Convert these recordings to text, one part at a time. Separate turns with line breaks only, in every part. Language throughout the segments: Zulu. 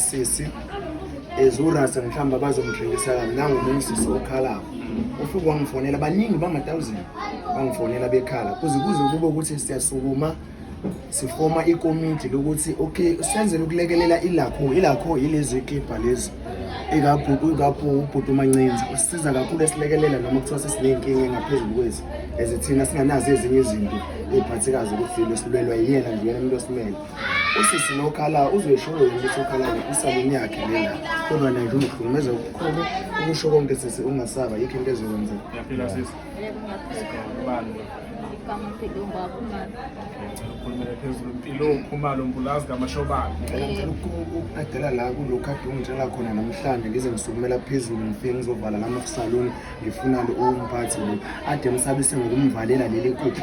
sisi ezurasa mhlawumbe abazomthengisa kabi nangomunye usisi okhalako ufike wangifonela baningi bama-thousand bangifonela bekhala kuze kuze kube ukuthi siyasukuma sifoma ikomiti lokuthi okay senzele ukulekelela ilakho ilakho yilezi kibha lezi ikabhuti umancinza usisiza kakhulu esilekelela noma kuthiwa sesiney'nkinga engaphezulu kwezi ezithina singanazo ezinye izinto ey'phathekazi ukuthi silwelwa yiyena nje yena umuntu osimele usisi nokhala uzoyishoyo yona ukuthi ukhala isalini yakhe lena kodwa naye umhlukumeza kukhulu ukusho konke sisi ungasaba yikho into ezokwenzeka
yaphila
sisi ubani ukhulumele phezulu impilo ukhumalo mbulazi
kamashobane ukukadela la kulokhu ade ungitshela khona namhlanje ngize ngisukumela phezulu ngifike ngizovala lama saloni ngifuna umphathi lo ade msabise ngokumvalela leli kukho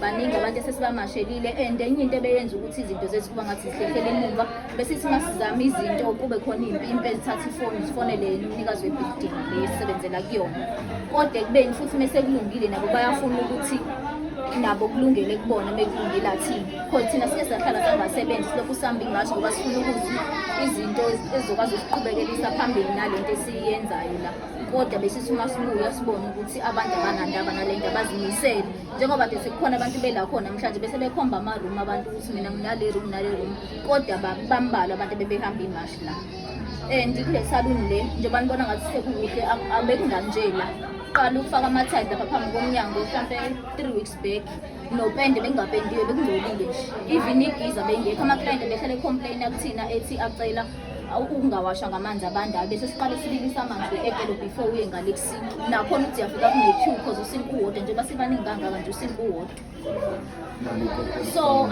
baningi abantu esesibamashelile and enye into ebeyenza ukuthi izinto zethu kuba ngathi zihlehlele emuva besithi uma sizama izinto kube khona iy'mpimpi ezithatha ifoni zifonele yena umnikazi webhidingi le esisebenzela kuyona kodwa ekubeni futhi uma sekulungile nabo bayafuna ukuthi nabo kulungele kubona uma kulungile athini khona thina siye sahlala sangasebenzi silokhu sihambe ingathi ngoba sifuna ukuthi izinto ezizokwazi ukuqhubekelisa phambili nale nto esiyenzayo la kodwa besisuma sibuya sibone ukuthi abantu abanandaba nale nto abazimisele njengoba ke sekukhona abantu bela khona namhlanje bese bekhomba ama-room abantu ukuthi mina nginale room nale room kodwa bambalwa abantu bebehamba imashi la and kule saluni le njengoba nibona ngathi sekukuhle abekunganje la qala ukufaka amathayi lapha phambi komnyango mhlampe three weeks back nopende bengingapendiwe bekungcolile nje even igiza bengekho ama-client behlale complain akuthina ethi acela ukungawasha ngamanzi abandayo bese siqale sibilise amanzi ekelo before uye ngale ekusini nakhona ukuthi uyafika kune-two cause usinga uwodwa njengoba sibaningi kangaka nje usinga uwodwa so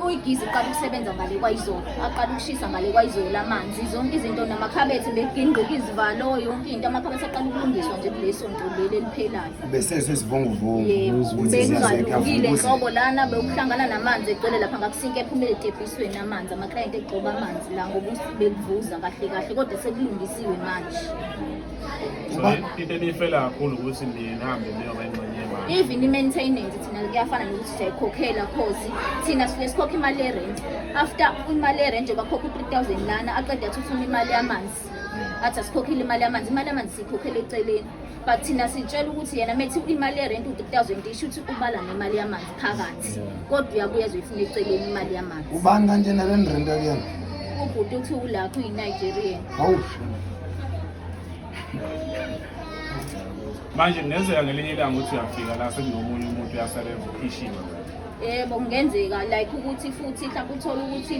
uyigizi iqala ukusebenza ngale kwayizolo aqala ukushisa ngale kwayizolo amanzi zonke izinto namakhabethe begingqika izivalo yonke into amakhabethe aqala ukulungiswa nje kulesonto leli eliphelayo
besezwe izivunguvungu Yebo, ukuthi
bengizwa zingaze lukile kavukuze nhlobo lana bewuhlangana namanzi egcwele lapha ngakusinke ephumele etebhisweni amanzi amaklayenti egcoba amanzi la ngoba us- bekuvuza kahle kahle kodwa sekulungisiwe manje So, into
eniyifela kakhulu ukuthi nihambe niyoba ingxenye yemali even i-maintenance
thina kuyafana nokuthi siyayikhokhela cause thina sifike sikhokhe imali yerent after imali yerent bakhokhe u-three thousand lana aqeda athi ufuna imali yamanzi athi asikhokhile imali yamanzi imali yamanzi siyikhokhela eceleni but thina sitshela ukuthi yena methi imali yerenti u-three thousand isho ukuthi ubala nemali yamanzi phakathi kodwa uyabuya ezoyifuna eceleni imali yamanzi ubani kanje nalenirenti
akuyena ubhuti uthi
ulapho uyi-nigerian hawu
manje kungenzeka ngelinye ilanga ukuthi uyafika la sekunomunye umuntu uyasebenza ukhishiwe yebo
kungenzeka like ukuthi futhi mhlawumbe uthole ukuthi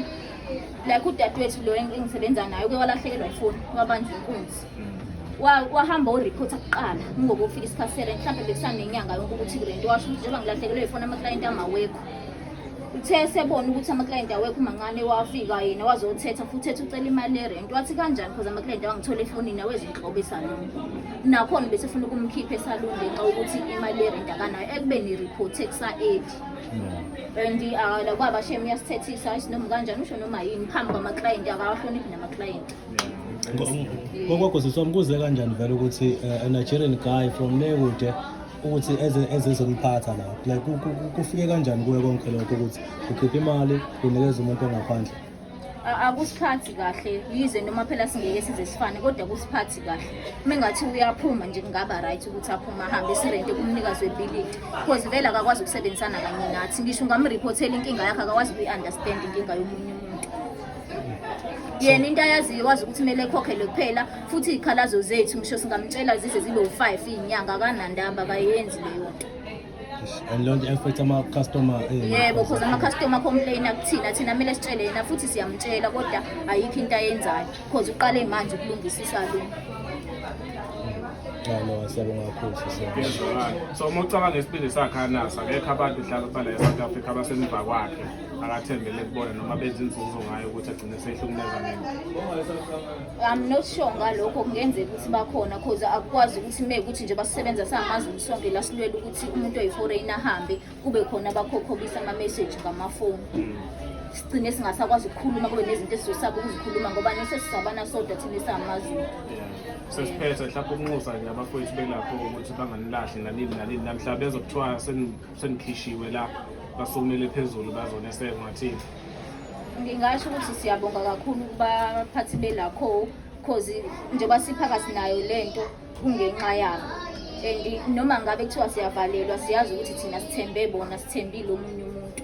like udadewethu lo engisebenza naye uke walahlekelwa ifoni wabanjwa inkunzi wahamba uriphotha kuqala ngoba ufika isikhathi sele mhlawumbe bekusanenyanga yonke ukuthi kule nto washo ukuthi njengoba ngilahlekelwe yifona amaklayenti amawekho uthe esebona ukuthi amaklayenti awekho mancane wafika yena wazothetha futhi ethi ucela imali yerenti wathi kanjani because amaklayenti awangithola efonini awezinhlobo esaluni nakhona besefuna ukumkhipha esaluni ngenxa ukuthi imali yerenti akanayo ekubeni iriphothe kusa-eli and uh, kwaba shem uyasithethisa isinoma kanjani usho noma yini phambi kwamaklayenti akawahloniphi namaklayenti ngokwagoziswa
mkuze kanjani vele ukuthi eh, a nigerian guy from le kude ukuthi ezezomphatha la like kufike kanjani kuye konke lokho ukuthi ukhipha imali unikeza umuntu ongaphandle akusiphathi
kahle yize noma phela singeke size sifane kodwa kusiphathi kahle uma engathi uyaphuma nje kungaba right ukuthi aphume ahambe sirente kumnikazi webhilidi because vele akakwazi ukusebenzisana kanye nathi ngisho ungamriphothela inkinga yakhe akakwazi ukuyi-understand inkinga yomunye umuntu yena into ayaziyo wazi ukuthi kumele ekhokhele kuphela futhi iy'khalazo zethu ngisho singamtshela zize zibe u-five iy'nyanga akanandaba akayenzi leyo nto and leyo
nto affect ama-customer eh, yebo cause
ama-customer complaina kuthina thina kumele sitshele yena futhi siyamtshela kodwa ayikho into ayenzayo cause uqale manje ukulungisa isaluni no siyabonga
kakhulu sisiyabonga so uma
ucabanga isibindi sakhe anasa akekho abantu mhlawumbe bala e-south africa abasemva kwakhe akathembele kubona noma benza inzuzo ngayo ukuthi agcine seyihlukumeza ngeke
I'm not sure ngalokho kungenzeka ukuthi bakhona cause akukwazi ukuthi me ukuthi nje basisebenza sangamaZulu sonke la silwela ukuthi umuntu oyiforeign ahambe kube khona abakhokhobisa ama message ngamafoni hmm. sigcine singasakwazi ukukhuluma kube nezinto esizosaba ukuzikhuluma ngoba nesesisabana sodwa thina esangamaZulu sesiphethe
mhlawumbe ukunxusa nje abafowethu belapho ukuthi banganilahli nanini nanini namhlawumbe bezokuthiwa Sengikhishiwe la basukumele phezulu bazoneseka ngathini. Ngingasho
ukuthi siyabonga kakhulu kubaphathi belakho cause njengoba siphakathi nayo lento kungenxa yabo. And noma ngabe kuthiwa siyavalelwa siyazi ukuthi thina sithembe bona sithembile omunye umuntu.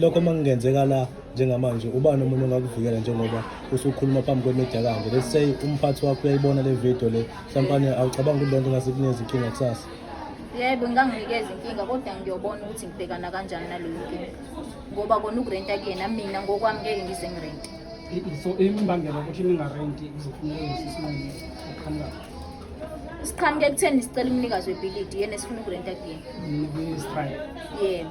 lokho uma kungenzeka la njengamanje ubani umuntu ongakuvikela njengoba usukhuluma phambi kwemedia kanje let's say umphathi wakho uyayibona le video le mhlampane awucabanga ukuthi lento ngase kunezi inkinga kusasa yebo
nginganginikeza inkinga kodwa ngiyobona ukuthi ngibhekana kanjani naleyo nkinga ngoba kona ukurenta kuyena mina ngokwami ngeke ngize ngirente so
imbangela ukuthi ningarenti kuzofuneka lesi sinqumo okuqhamukayo
siqhamuke ekutheni sicela umnikazi webhilidi yena esifuna ukurenta kuyena Ngibe strike.
yena